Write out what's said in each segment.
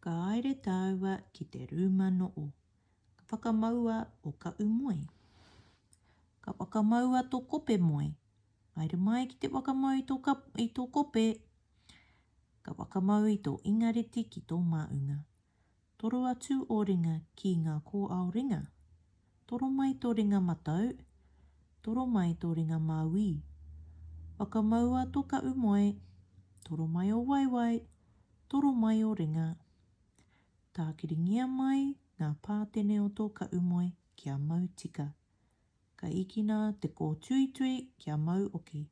Ka haere tāua ki te rūma noʻo. Ka whakamaua o kaʻu moe. Ka whakamaua to kope moe. Haere mai ki te whakamau i to i to kope. Ka whakamau i to ingareti ki to maunga. Toro atu o ringa ki nga kōao ringa. Toro mai tō ringa matau, toro mai tō ringa māuī. Whakamaua tō kaʻu moe, toro mai ō waewae, toro mai ō ringa. Tākiringia mai ngā pātene o tō kaʻu moe kia mau tika. Ka ikina te kōtuitui kia mau oki.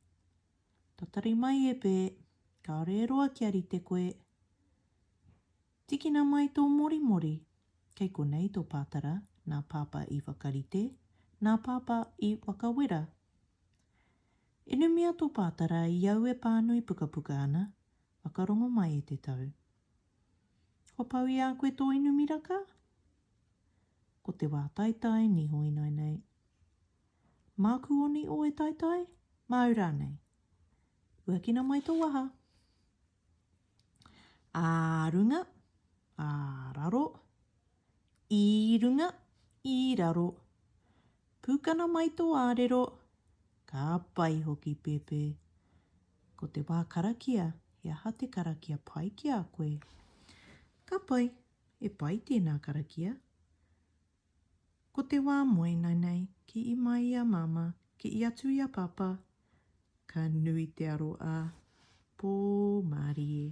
Tatari mai e Pē, kāore e roa kia rite koe. Tikina mai tō morimori. Kei konei tō pātara, nā Pāpā i whakarite, nā Pāpā i whakawera. Inumia tō pātara i au e pānui pukapuka ana, whakarongo mai e te tau. Kua pau i a koe tō inumiraka? Ko te wā taitai niho inainei. Māku o niho e taitai? Māu rānei. Huakina mai tō waha. ā runga, ā raro, i runga, i raro. Pūkana mai tō ārero, ka pai hoki Pepe. Ko te wā karakia, he aha te karakia pai ki a koe? Ka pai, e pai tēnā karakia. Ko te wā moena nei, kii mai i a Māmā, kii atu i a Pāpā, ka nui te aro a, Pō mārie.